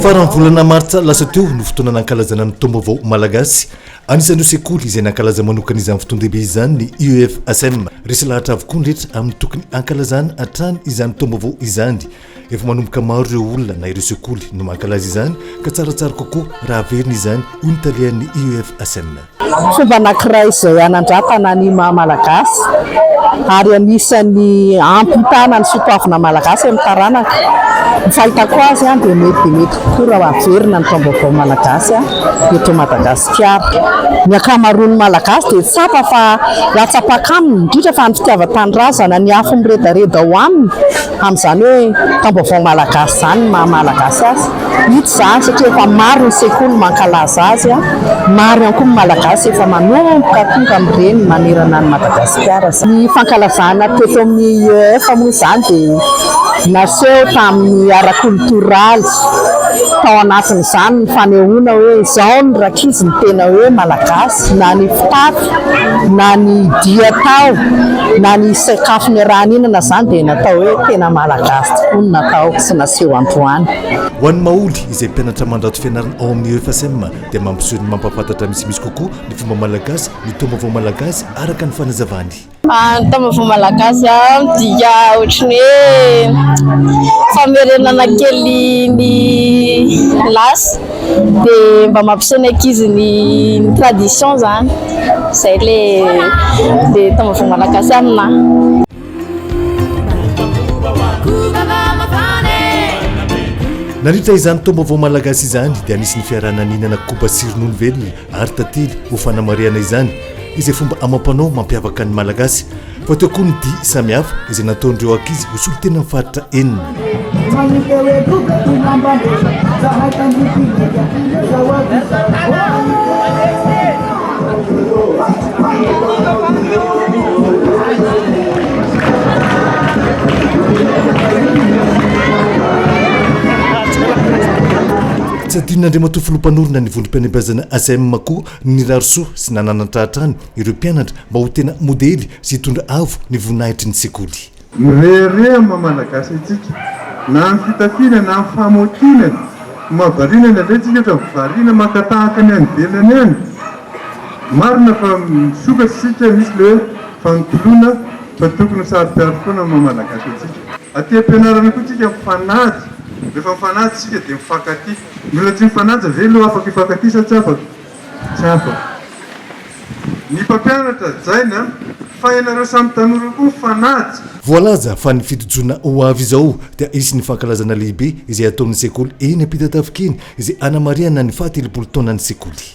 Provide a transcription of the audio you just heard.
Faran'ny volana martsa lasa teo no fotoana nankalazana ny taom-baovao malagasy Anisan'ireo sekoly izay nankalaza manokana izany fotoan-dehibe izany ny UEFASM. Resy lahatra avokoa ny rehetra amin'ny tokony hankalazana hatrany izany taom-baovao izany. Efa manomboka maro ireo olona na ireo sekoly no mankalaza izany ka tsaratsara kokoa raha averina izany, hoy ny talehan'ny UEFASM. Fomba anankiray izay hanandratana ny maha Malagasy ary anisan'ny hampitana ny soatoavina Malagasy amin'ny taranaka. Ny fahitako azy dia mety dia mety kokoa raha averina ny taom-baovao Malagasy. eto Madagasikara. Ny ankamaroan'ny Malagasy dia tsapa fa latsam-paka aminy, indrindra fa ny fitiavan-tanindrazana, ny afo miredareda ao aminy, amin'izany hoe Taombaovao Malagasy izany, ny maha Malagasy azy. Hita izany satria efa maro ny sekoly mankalaza azy, maro ihany koa ny Malagasy efa manomboka tonga amin'ireny manerana an'i Madagasikara izany. Ny fankalazana teto amin'ny IEF moa izany dia. Naseho tamin'ny ara-kolotoraly tao anatin'izany ny fanehoana hoe izao ny rankizy ny tena hoe Malagasy, na ny fitafy, na ny dia atao, na ny sakafo niaraha-nihinana izany dia natao hoe tena Malagasy tokoa ny natao sy naseho androany. Ho an'ny Maholy izay mpianatra mandrato fianarana ao amin'ny EFSM dia mampiseho ny mampahafantatra misimisy kokoa ny fomba malagasy, ny taom-baovao malagasy araka ny fanazavany. Ny taom-baovao malagasy midika ohatran'ny hoe famerenana kely ny lasa dia mba mampiseho ny ankizy ny tradition izany, izay ilay taom-baovao malagasy aminahy. Nandritra izany taom-baovao malagasy izany dia nisy ny fiaraha-naninana koba sy ronono velona Ary tantely ho fanamarihana izany izay fomba amam-panao mampiavaka ny Malagasy fa teo koa ny dihy samihafa izay nataon'ireo ankizy ho solontenan'ny faritra enina. Tsy adinon'Andriamatoa Filoha Mpanorina ny Vondrom-pianabazana ACEM koa ny nirary soa sy nananatra hatrany ireo mpianatra mba ho tena modely sy hitondra avo ny voninahitry ny sekoly. Mirehareha ny maha Malagasy antsika, na amin'ny fitafiana na amin'ny famaotiana, ny maha variana ny andraikitsika ohatra ny variana maka tahaka ny any ivelany any an! Marina fa misokatra isika, misy ilay hoe fanotoloana fa tokony ho saro-piaro foana ny maha Malagasy antsika. Aty am-pianarana koa isika mifanajy. Rehefa mifanaja isika dia mifankatia. Ny olona tsy mifanaja ve no afaka hifankatia sa tsy afaka? Tsy afaka. Ny mpampianatra, Jaina, fa ianareo samy tanora io koa mifanaja. Voalaza fa ny fitojona ho avy izao dia hisy ny fankalazana lehibe izay hataon'ny sekoly eny Ampitatafika eny izay hanamarihana ny fahatelopolo taonan'ny sekoly.